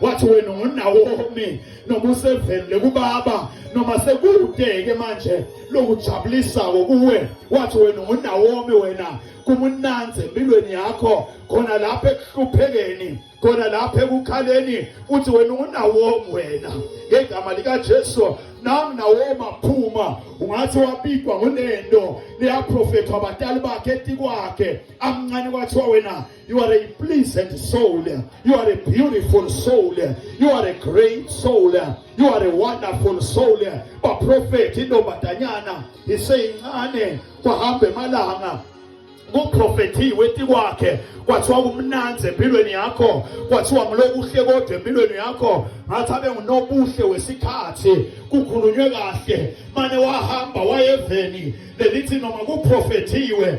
wathi wena ngunawomi noma usevelile kubaba noma sekudeke manje lokujabulisako kuwe wathi wena ngunawomi wena kumunanzi empilweni yakho khona lapho ekuhluphekeni khona lapho ekukhaleni uthi wena ungunawomi wena ngegama likajesu nami nawoma phuma ungathi wabikwa ngunento leyaprofethwa abatali bakhe etikwakhe amncane kwathiwa wena You are a pleasant soul. You are a beautiful soul. You are a great soul. You are a wonderful soul. Baprofethi intombazanyana iseyincane kwahamba emalanga kuprofethiwe ti kwakhe kwathiwa kumnanzi empilweni yakho kwathiwa ngilokuhle kodwa empilweni yakho ngathi abe ngunobuhle wesikhathi kukhulunywe kahle mane wahamba wayeveni lelithi noma kuprofethiwe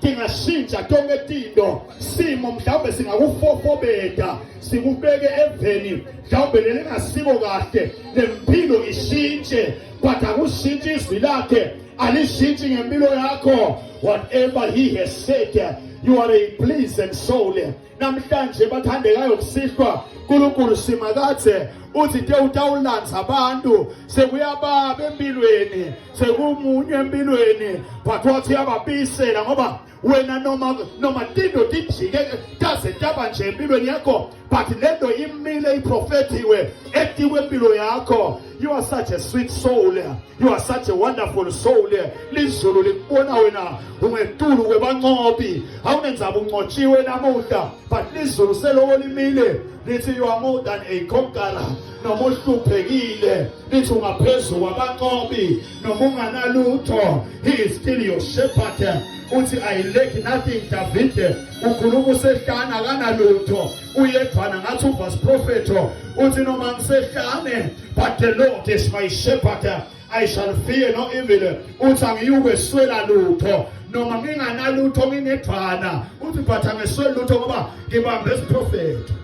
tingashintsha tonke tinto simo mhlawumbe singakufofobeta sikubeke eveni mhlawumbe lelingasiko kahle lempilo ishintshe but akushintshi izwi lakhe alishintshi ngempilo yakho whatever he has said you are a pleasant soul namhlanje bathandekayo kusihlwa uNkulunkulu simakathe uthi te utawulandza abantu sekuyababa empilweni sekumunye empilweni but wathi uyababisela ngoba wena noma noma tinto tijike taze taba nje empilweni yakho but lento imile iprofethiwe etikwempilo yakho You are such a sweet soul. You are such a wonderful soul. Lizulu likubona wena ungetulu kwebancobi. Awunenzaba uncotshiwe namuhla. But lizulu seloko limile lithi you are more than a conqueror. Noma uhluphekile lithi ungaphezu kwabancobi noma unganalutho. He is still your shepherd. Uthi I lack nothing David. Ukhuluma usehlana kanalutho. uyedwana ngathi uvas profeto uthi noma ngisehlane but the lord is my shepherd i shall fear no evil uthi angiyukweswela lutho noma nginganalutho nginedwana uthi but angesweli lutho ngoba ngibambe isiprofeto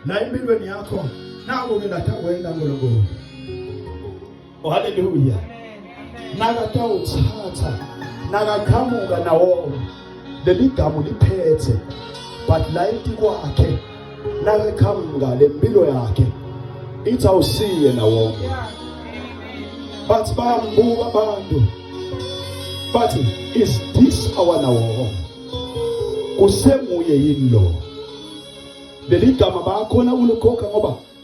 la empilweni yakho naku ke lathi awenda nkulunkulu Oh, haleluya. Nakatawutsatsa nakaqhamuka nawo leli gamu liphethe but layiti kwakhe nakaqhamuka lempilo yakhe ithi awusiye nawo bathi bayambuka abantu bathi is this our nawo kusenguye yini lo leli gama bayakhona ukulikhokha ngoba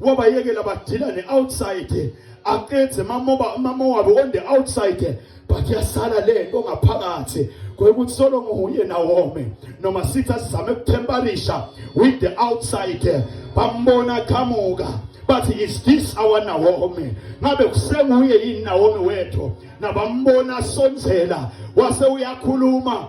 wabayekela badilane outside aqedze mamoba mama wabo on the outside but yasala le nto ngaphakathi kwekuthi solo nguye nawome noma sithi asizame kuthembarisha with the outside bambona qhamuka bathi is this our Naomi ngabe kusenguye yini Naomi wethu nabambona sonzela wase uyakhuluma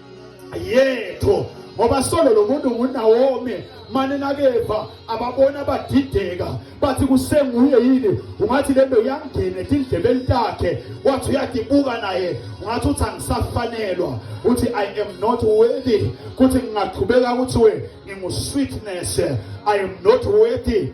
yethu ngoba solo lo muntu nguNawomi mane nakeva ababona badideka bathi kusenguye yini ungathi lento yangena etindlebeni takhe wathi uyadibuka naye ungathi uthi angisafanelwa uthi i am not worthy kuthi ngingaqhubeka kuthiwe ngingu-sweetness i am not worthy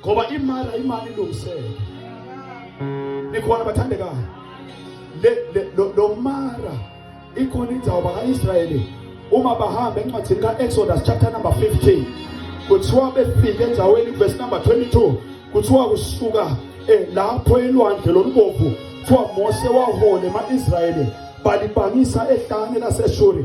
ngoba imali imali ilungisele nikhona bathandekayo le lo mara ikhona indawo baka-israyeli uma bahamba encwadini ka-exodus chapter number 15 kuthiwa befike endaweni verse number 22 kuthiwa kusuka eh, lapho elwandle lolubomvu kuthiwa mose wahole ema-israyeli balibangisa ehlane laseshuri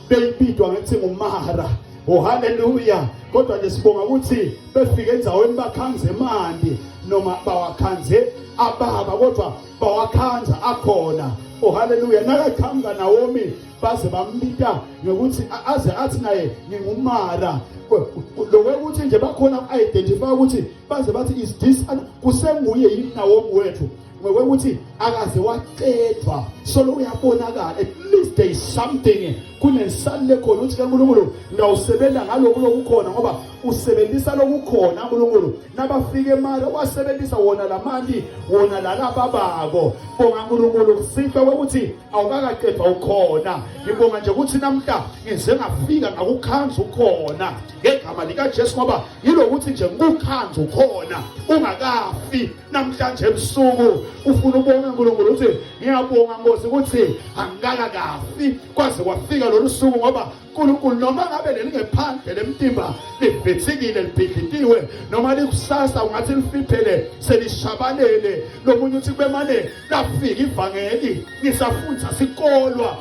beyibidwa ngethi ngumara oh haleluya kodwa nje sibonga ukuthi befike endaweni bakhanze mandi noma bawakhanze ababa kodwa bawakhanza akhona oh haleluya nakaqhamuka nawomi baze bambita ngokuthi aze athi naye ngingumara lokwekuthi nje bakhona identify ukuthi baze bathi is this kusenguye yini nawomi wethu ngokokuthi akaze waqedwa solo uyabonakala at least there is something kunensalile khona ukuthi kaNkulunkulu ngawusebenza ngaloku lokukhona ngoba usebenzisa lokukhona uNkulunkulu nabafike emali wasebenzisa wona lamali wona lalaba bako bonga uNkulunkulu kusihle ukuthi awukakaqedwa ukhona ngibonga nje ukuthi namhla ngize ngafika ngakukhanza ukhona ngegama likaJesu ngoba yilokuthi nje ngikukhanza ukhona ungakafi namhlanje ebusuku ufuna ubonga uNkulunkulu uthi ngiyabonga Nkosi ukuthi angikaka kafi kwaze kwafika lolu suku ngoba uNkulunkulu noma ngabe lelingephandle lemtimba livithikile libhidlitiwe noma likusasa ungathi lifiphele selishabalele lomunye uthi kubemane lafika ivangeli ngisafundza sikolwa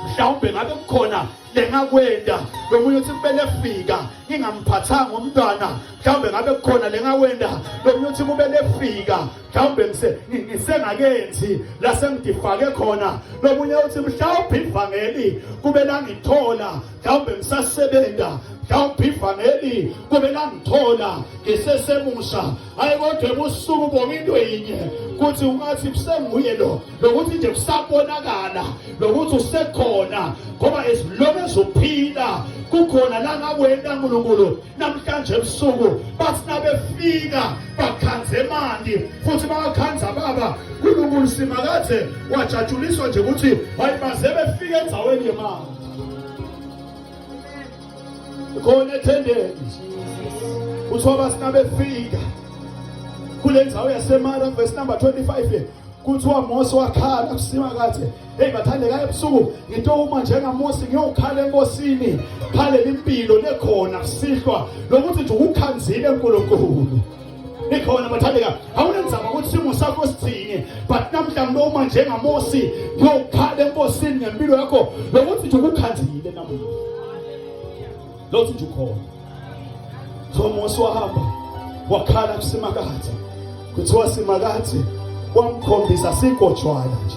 mhlawumbe ngabe kukhona lengakwenda lomunye uthi kumele efika ngingamphathanga umntwana mhlawumbe ngabe kukhona lengakwenda lomunye uthi kumele efika mhlawumbe ngisengakenzi la sengidifake khona lomunye uthi mhlawumbe ivangeli kube langithola mhlawumbe ngisasebenza mhlawumbe ivangeli kube langithola ngisesemusha hayi kodwa ebusuku ubonga into yinye kuthi ungathi kusenguye lo lokuthi nje kusabonakala lokuthi usekhona ngoba as long as uphila kukhona la ngakwenda nkulunkulu namhlanje ebusuku bathi nabefika bakhanze emandi futhi bakhanza baba nkulunkulu simakade wajatshuliswa nje ukuthi hayi baze befike endaweni yemali khona ethendeni kuthiwa basina befika kule ndzawo yasemara verse number 25 kuthiwa mose wakhala kusima kathi heyi bathandeka ebusuku ngitowuma njengamosi ngiyowukhala enkosini khalela impilo nekhona kusihlwa lokuthi nje ukukhanzile nkulunkulu ikhona bathandeka awunenzaba ukuthi simo sakho sithini but namhla noma njengamosi ngiyokhala enkosini ngempilo yakho lokuthi nje ukukhanzile namuhla lothi nje ukhona so mosi wahamba wakhala kusimakathe kuthiwa simakathe wamkhombisa sigojwana nje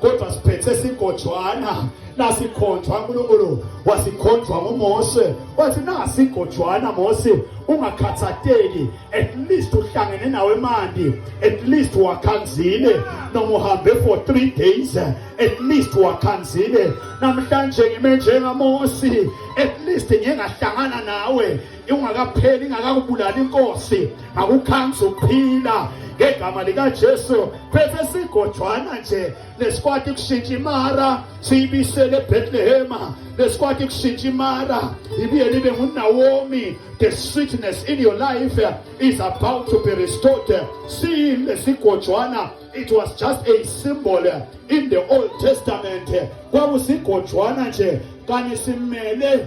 kodwa siphethe sigojwana nasikhonjwa uNkulunkulu wasikhonjwa nguMose wathi nasi igojwana Mose ungakhathateki at least uhlangene nawe mandi at least wakhanzile noma uhambe for 3 days at least wakhanzile namhlanje ngime njengaMose at least ngingahlangana nawe ingakapheli ingakakubulali inkosi akukhanzi ukuphila ngegama likaJesu bese sigojwana nje lesikwati kushintsha imara siyibisele eBethlehem lesikwati kushintsha imara ibuye libe nguNaomi the sweetness in your life is about to be restored siyile sigojwana it was just a symbol in the old testament kwakusigojwana nje kani simele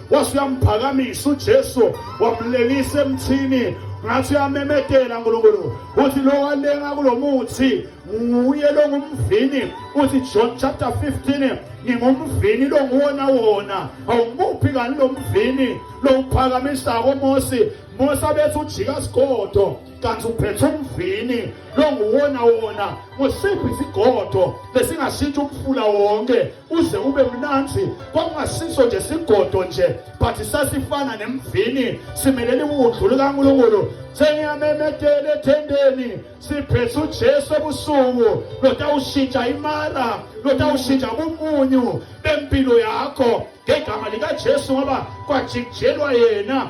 wase uyamphakamisa uJesu wamlelisa emthini ngathi uyamemedela nkulunkulu uthi lo walenga kulo muthi nguye lo ngumvini uthi john chapter 15 ngingumvini lo nguwona wona awumuphi kani lo mvini lo uphakamisako mosi mosi abethi ujika sigodo kanti uphethe umvini longuwona wona ngosiphi isigodo lesingashintsha umfula wonke uze ube mnanzi kwakungasiso nje sigodo nje but sasifana nemvini simelele ukudlu lukaNkulunkulu sengiyamemedela ethendeni siphethe uJesu ebusuku lotawushintsha imara lotawushintsha umunyu bempilo yakho ngegama likaJesu ngoba kwajikijelwa yena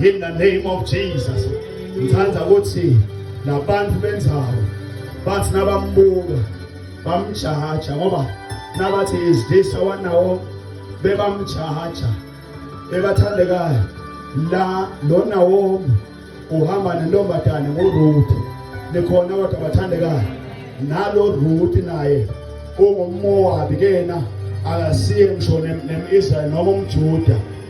In the name of Jesus. Ngithanda ukuthi labantu benzawo bathi nabambuka bamjaja ngoba nabathi is this our nawo bebamjaja bebathandekayo la lona womi uhamba nentombazane nguRuth nikhona kodwa bathandekayo nalo Ruth naye ungummowabi kena akasiye ngisho nem-israyeli noma umjuda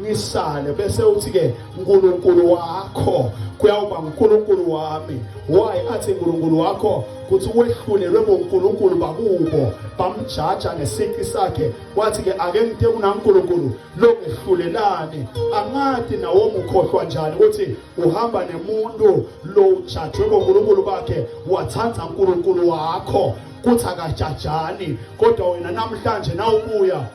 ngisale bese uthi ke uNkulunkulu wakho kuyawuba uNkulunkulu wami why athi uNkulunkulu wakho kuthi wehlulelwe boNkulunkulu bakubo bamjaja ngesiki sakhe wathi ke ake ngithe uNkulunkulu lokuhlulelani angadi nawo mukhohlwa njani ukuthi uhamba nemuntu lo ujajwe boNkulunkulu bakhe wathanda uNkulunkulu wakho kuthi akajajani kodwa wena namhlanje nawubuya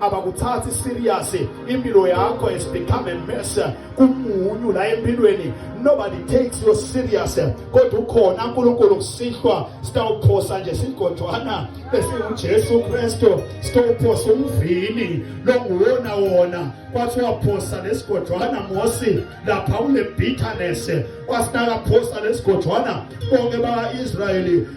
abakuthathi serious impilo yakho has become a mess kumunyu la empilweni nobody takes you serious kodwa ukhona uNkulunkulu kusihlwa sitawuphosa nje sigojwana esiwuJesu Kristu sitawuphosa umvini longuwona wona kwathi waphosa lesigojwana Mosi lapha kule bitterness kwasinakaphosa lesigojwana bonke baka-Israyeli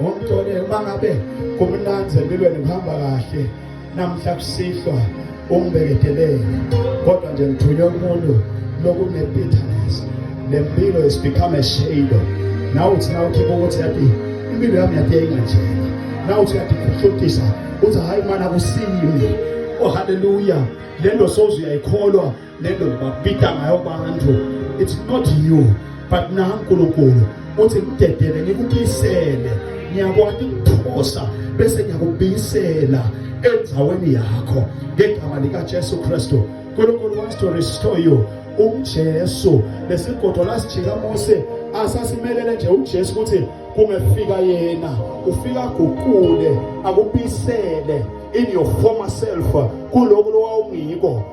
Ngomthole uma ngabe kumnanzi empilweni kuhamba kahle namhla kusihlwa umbekedelele kodwa nje ngithunywe umuntu lokunempithaness nempilo is become a shadow nawe uthi na ukhipha ukuthi yathi impilo yami yathi yayinganjena nawe uthi yathi kuhlotisa uthi hayi mana kusiyimi oh haleluya le nto soze uyayikholwa le nto babita ngayo abantu it's not you but na uNkulunkulu uthi ngidedele ngikubisele ngiyakwati ukuphosa bese ngiyakubisela endaweni yakho ngegama likaJesu Kristu uNkulunkulu wants to restore you uJesu lesigodo lasijika Mose asasimelele nje uJesu ukuthi kungefika yena ufika guqule akubisele in your former self kuloko lowawungiko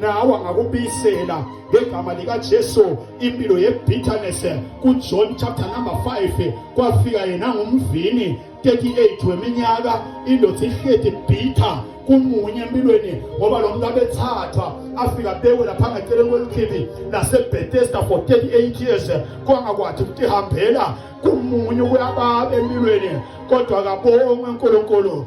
nawe angakubisela ngegama likaJesu impilo yebitterness kuJohn chapter number 5 kwafika yena ngumvini 38 weminyaka indoda ihleti bitter kumunye empilweni ngoba lo muntu abethathwa afika bekwe lapha ngaceleni kwelikhibi nasebethesda for 38 years kwangakwathi ukuthi hambela kumunye ukuyababe empilweni kodwa kabongwe unkulunkulu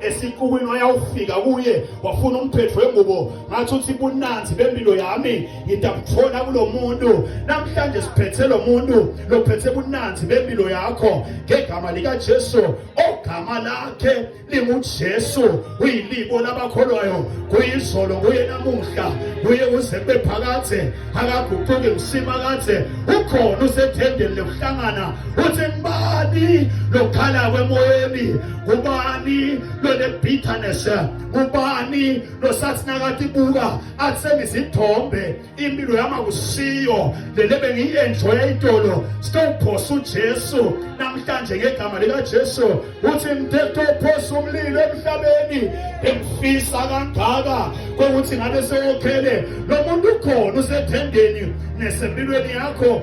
esikuwini wayawufika kuye wafuna umphetho wengubo ngathi uthi bunanzi bempilo yami ngidakuthola kulo muntu namhlanje siphethe lo muntu lophethe bunanzi bempilo yakho ngegama likajesu ogama lakhe lingujesu uyilibo labakholwayo kuyizolo kuye namuhla kuye uze kube phakathe akaguquki msima kathe ukhona usethendeni lokuhlangana uthi ngibani lokhala kwemoyeni ngubani lone-bitterness ngubani losathi nakathi buka athi sengizithombe impilo yama kusiyo lele bengiyi-enjoya itolo sitophosa ujesu namhlanje ngegama likajesu uthi mthethophosa umlilo emhlabeni engifisa kangaka kokuthi ngabe sewokhele lo muntu ukhona usethendeni nesempilweni yakho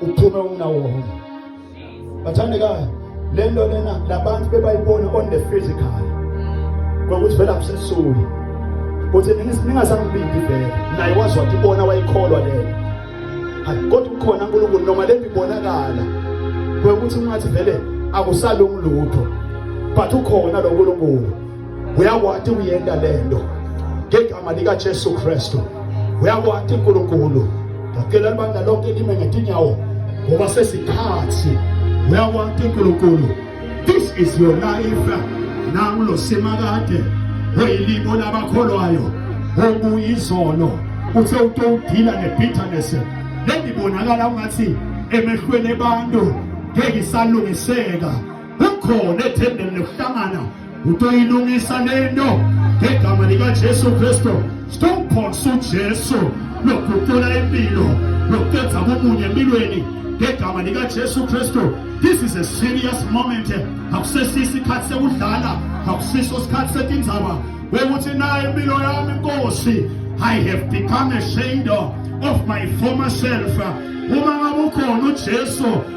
uphume umnawonke bathandekayo le nto lena labantu bebayibona on the physical kwakuthi vele abusesuli kuthi ningasangibindi vele naye wazi wathi ibona wayikholwa leyo kodwa ukhona unkulunkulu noma le nto ibonakala kwekuthi ungathi vele akusalungi lutho but ukhona lo nkulunkulu uyakwati kuyenta lento ngegama likaJesu Kristu uyakwati uNkulunkulu ngicela libandla lonke lime ngetinyawo ngoba sesikhathi uyakwati uNkulunkulu this is your life nangu lo simakade weyilibo labakholwayo okuyizono uthe utowudila ne-bitterness lendibonakala ungathi emehlweni ebantu ngeke isalungiseka kukhona ethembeni lokuhlangana utoyilungisa lento ngegama likajesu kristu sitokuphonsa ujesu lokuguqula impilo lokuqedza komunye empilweni ngegama likajesu kristu this is a serious moment akusesiso isikhathi sekudlala akusiso isikhathi setindzaba wekuthi nayo impilo yami nkosi i have become a shadow of my former self uma ngabe ukhona ujesu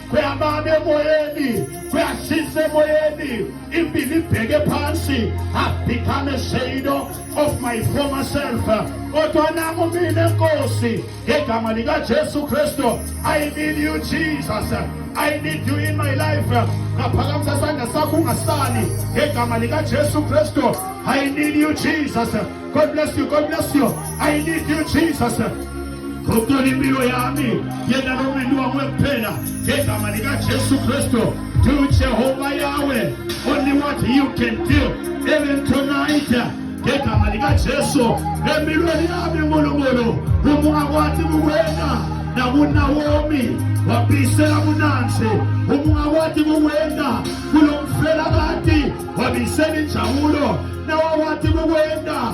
kuyababa emoyeni kuyashisa emoyeni impilo ibheke phansi have become a shadow of my former self kodwa nami mina nkosi ngegama likajesu kristu i need you jesus i need you in my life ngaphakamisa sandla sakho ungasali ngegama likajesu kristu i need you jesus god bless you god bless you i need you jesus Ngokuthola impilo yami yena nomendo wakwe kuphela ngegama likaJesu Kristu to Jehovah Yahweh only what you can do even tonight ngegama likaJesu empilweni yami uNkulunkulu umuka kwathi kuwena nakuNawomi wabisela kunansi umuka kwathi kuwena kulo mfelabati wabisela injabulo nawawathi kuwena